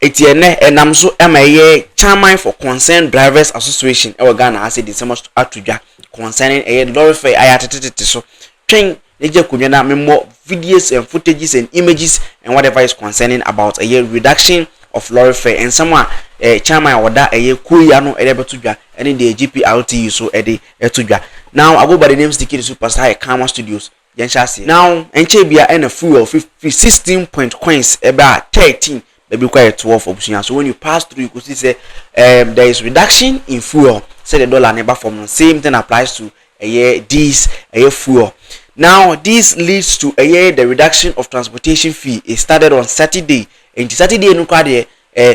Eti ɛnnɛ, ɛnam so ma ɛyɛ Chairman for Concerned Drivers Association wɔ Ghana ha sɛ di nsɛm ato dwa concerning ɛyɛ lorry fare a yɛatete tete so. Twɛn na gye akonnwa na memmɔ videos and footages and images and whatever is concerning about ɛyɛ reduction of lorry fare, nsɛm a eh, Chairman a ɔda ɛyɛ kuo yi ano de abɛto dwa ne deɛ GPRTU so de to dwa. Now I go by the name Sticky the Superstar at Karma Studios. yɛn hyɛ aseɛ. Now ɛnkyɛɛ bia ɛna fuel fifty sixteen point coins ɛbɛ a thirteen bɛbi kɔ a yɛ twelve abusua so when you pass through yɛkɔ si sɛ um there is reduction in fuel sɛ deɛ dollar no ba fam no same thing applies to ɛyɛ this ɛyɛ fuel now this leads to ɛyɛ the reduction of transportation fee it started on Saturday nti Saturday no kora deɛ eh,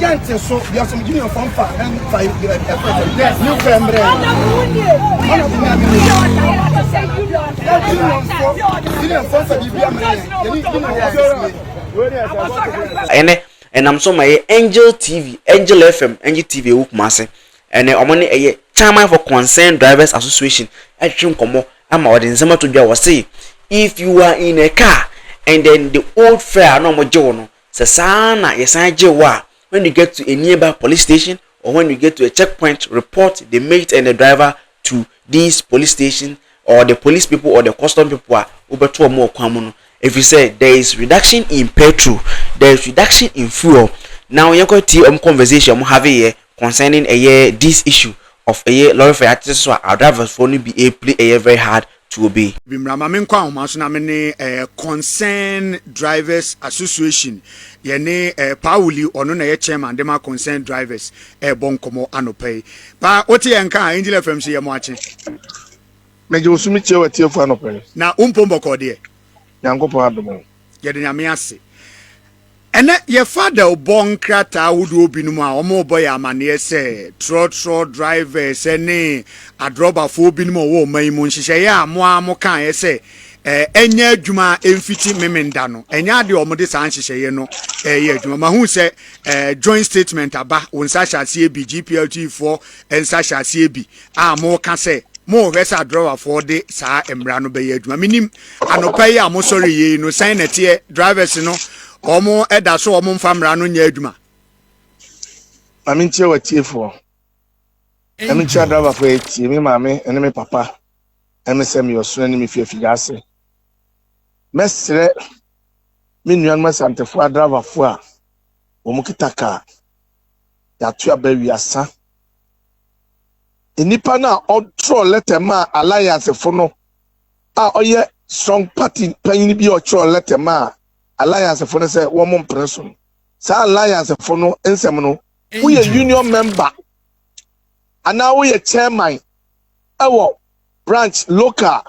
Yɛnte so bia som gyimi ɔfɔ mfa mfa ɛfɛ new fɛ mbrɛ ɔno fi naa mene na gyimi ɔfɔ gyimi ɔfɔ mfa bibia mbrɛ yɛn yɛne gyimi ɔfɔ sɛsɛ ɛne ɛnam so ma ɛyɛ angel tv angel fm angel tv ɛwɔ kumase ɛne ɔmo ne ɛyɛ chairman for concerned drivers association ɛtwetwe nkɔmɔ ama ɔde nsɛm ato dwa wɔ se if you are in a car and then the old fare na ɔmo gye wo no Sɛ saa ara na yɛsan gye wo a, when you get to a nearby police station or when you get to a checkpoint, report the mate and the driver to these police station or the police people or the custom people a wobɛto wɔn wɔ kwan mu no ɛfiri sɛ there is reduction in petrol, there is reduction in fuel. Now yɛnkɔ tie wɔn conversation wɔn have yɛ concerning ɛyɛ this issue of ɛyɛ lorry fare atete so a our drivers foɔ no bi ɛrepli ɛyɛ very hard to obi. Bi mmra ma menkɔ ahoma so na me ne eh, Concerned Drivers Association, yɛne eh, Paa Wuli, ɔno na ɛyɛ chairman de ma Concerned Drivers, ɛrebɔ nkɔmmɔ anɔpa yi. Paa, wote yɛn nka a, Angel FM se yɛ mo akye. Megye wo so metie w'atiefo anɔpa yi. Na wo mpom bɔkɔɔ deɛ? Nyankopɔn adom o. Yɛda Nyame ase. Ɛnnɛ yɛfa adawbɔ nkrataa ahodoɔ binom a wɔrebɔ yɛ amanneɛ sɛ trɔtrɔ drivers ne adrɔbafoɔ binom a wɔwɔ ɔman yi mu nhyehyɛeɛ a mo ara mo kaeɛ sɛ ɛnyɛ adwuma a ɛmfiti memenda no ɛnyɛ adeɛ a wɔde saa nhyehyɛeɛ no ɛyɛ adwuma mahu sɛ joint statement aba wo nsa hyɛ aseɛ bi GPLG foɔ nsa hyɛ aseɛ bi a moka sɛ mohwɛ sɛ adrɔbafoɔ de saa mmara no bɛyɛ adwuma menim anɔpa yi a mosɔre yei no sɛn na ɛteɛ drivers no wɔn ɛda so wɔn mfa mmara no nyɛ adwuma maame nkyerɛ watiefoɔ ɛme nkyerɛ adrabafoɔ atie me maame ɛne me papa ɛme sɛ meyɛ ɔsoro ne me fi afigya ase mɛserɛ me nuanom asantefoɔ adrabafoɔ a wɔn kita kaa yɛato aba wiasa nnipa no a ɔtwerɛ lɛtɛ maa alliancefo no a ɔyɛ strong party panyin bi a ɔtwerɛ lɛtɛ maa alliancefo no sɛ wɔn mpene so no saa alliancefo no nsɛm no woyɛ union member anaa woyɛ chairman ɛwɔ branch local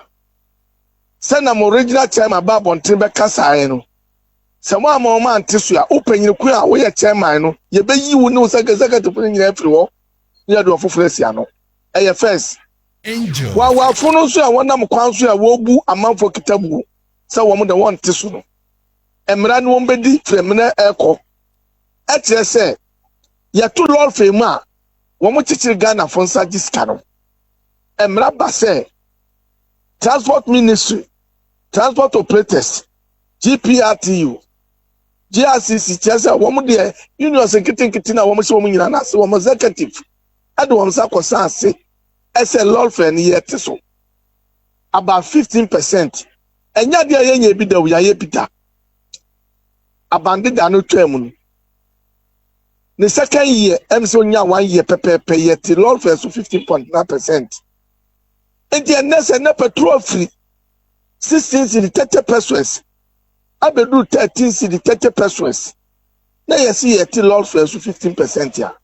sɛ na mo regional chairman ba abɔnten bɛkasaeɛ no Sɛ moamma wɔn ante so a, wo panyin koro a woyɛ chairman no, yebeyi wo ne wo sɛkɛsɛkɛtefo no nyinaa afiri hɔ na yɛde wɔn foforo asi ano. Ɛyɛ First. Hoahoafo no nso a wɔnam kwan so a wɔrebu amanfo akitabuo sɛ wɔn de wɔnte so no mmara ne wɔn bedi firi mmerɛ ɛrekɔ. Ɛkyerɛ sɛ yɛto lɔɔrefei mu a wɔn kyekyere Ghanafo nsa gye sika no. Mmara ba sɛ Transport Ministry, Transport Operators, GPRTU, GRCC kyerɛ sɛ wɔn deɛ unions nketenkete na wɔn hyɛ wɔn nyinaa n'ase wɔn executive ɛde wɔn nsa kɔ san ase ɛsɛ lɔlfɛ no yɛ te so about fifteen percent ɛnyɛ adeɛ a yɛnyɛ ebi da o yɛayɛ bi da abandeda no twaa mu no ne second year ɛm sɛ onya one year pɛpɛɛpɛ yɛ te lɔlfɛ so fifteen point nine percent nti ɛnɛ sɛ ne petrol firi. sixteen cedi thirty pesos abɛduru thirteen cedi thirty pesos na yɛsi yɛte lɔɔre fare so fifteen percent a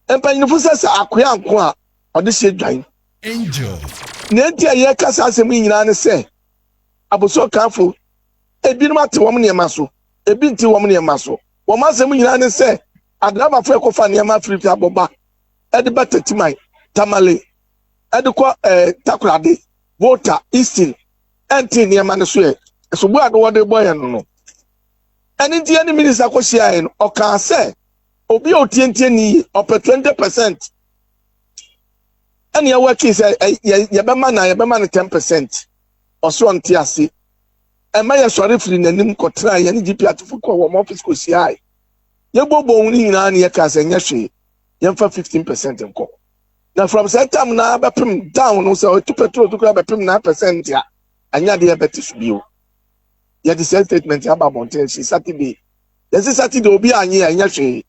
mpanyinfo sɛ sɛ akoya nko a ɔde hyɛ dwan angel na enti a yɛka saa asɛm yi nyinaa ne sɛ abosokanfo ebinom ate wɔn nneɛma so ebi nte wɔn nneɛma so wɔn asɛm nyinaa ne sɛ adrabafo ɛkɔfa nneɛma afiri fi abɔba ɛde ba tatiman tamale de kɔ ɛɛ eh, takoradi volta easton ɛnte nneɛma no so ɛ ɛsobo a no wɔde bɔ yɛn no no ɛne nti ɛne minista kɔhyia yɛn ɔkaa sɛ obi a otientie ne yie ɔpɛ twenty percent ɛne ɛwɔ akyi sɛ yɛ yɛbɛma na yɛbɛma no ten percent ɔsoro ɔnte ase ɛma yɛsɔre firi n'anim kɔtena yɛne gp atefo kɔ wɔn ɔfis kɔhyia yɛ yɛbɔ bɔn no nyinaa ne yɛkaa sɛ nyɛ hwee yɛmfa fifteen percent nkɔ. na from saa tam na bɛpem down no sɛ ɔtu petrol to kura bɛpem na percent a anya deɛ bɛte so bio yɛde saa statement aba abɔnten si saturday yɛsi saturday obi anye a ɛnyɛ hwee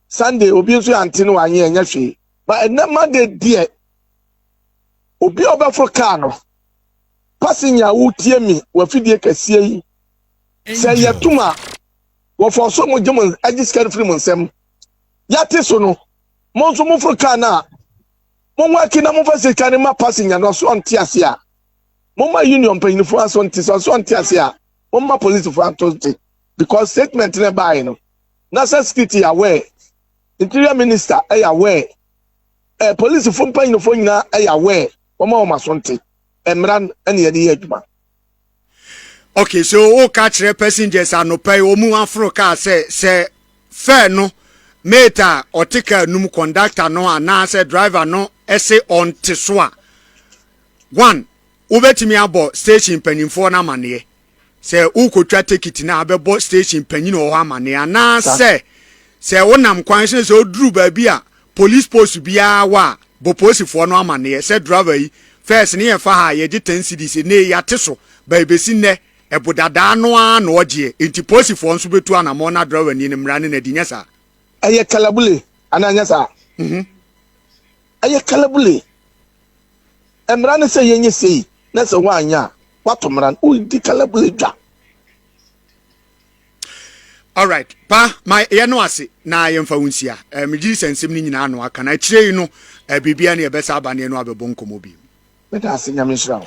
sunday obi nso ante no anye ɛnyɛ hwee ba ɛnɛ monday deɛ obi a ɔbɛforo kaa no passenger a wotie mi wafidie kɛseɛ yi sɛ yɛtum a wɔfɔ so mo gye mo agye sika no firi mo nsɛm yɛate so no Mo nso moforo kar no a, monwɔ akyi na momfa sika no ma passenger no ɔso ɔnte ase a. Momma union mpanyinfoɔ aso nte sɛ ɔso ɔnte ase a, momma policefoɔ ato nte because statement no ɛbaeɛ no, national security yɛ aware, interior minister ɛyɛ aware, eh, policefoɔ mpanyinfoɔ nyinaa ɛyɛ aware, wɔma wɔn aso nte. Mmara no ɛne yɛde yɛ adwuma. okay so woka kyerɛ passengers anɔpa yi wɔn aforo kaa sɛ sɛ fare no mate a ɔte kaa num conductor no anaasɛ driver no ɛse ɔnte so a one wobɛtumi abɔ station mpanimfoɔ no amanneɛ sɛ wokɔtwa tekiti no a bɛbɔ station panyin wɔ hɔ amanneɛ anaasɛ sɛ wonam kwan sɛ sɛ woduru baabi a Police post biara hɔ a bɔ poosifoɔ no amaneɛ sɛ driver yi first ne yɛfa ha a yɛgye ten cedis enee yɛate so but ebesi nnɛ ɛbo dadaa no ara na ɔgyeɛ enti poosifoɔ nso bɛtu anamɔn na driver nie no mmara ne no adi nyɛ saa. Ɛyɛ kalabule anaa ɛnyɛ saa? Mhm. Ɛyɛ kalabule. Mmara ne sɛ yɛnyɛ sei na sɛ woanyɛ a woato mmara no. Wodi kalabule dwa. alright pa ma yɛ no ase na yɛmfa wo nsia eh, megye sɛ nsɛm no nyinaa no aka na akyire yi no eh, biribia ne ɛbɛsa aba ne ɛno abɛbɔ nkɔmmɔ bi meda ase nyame nhyira wo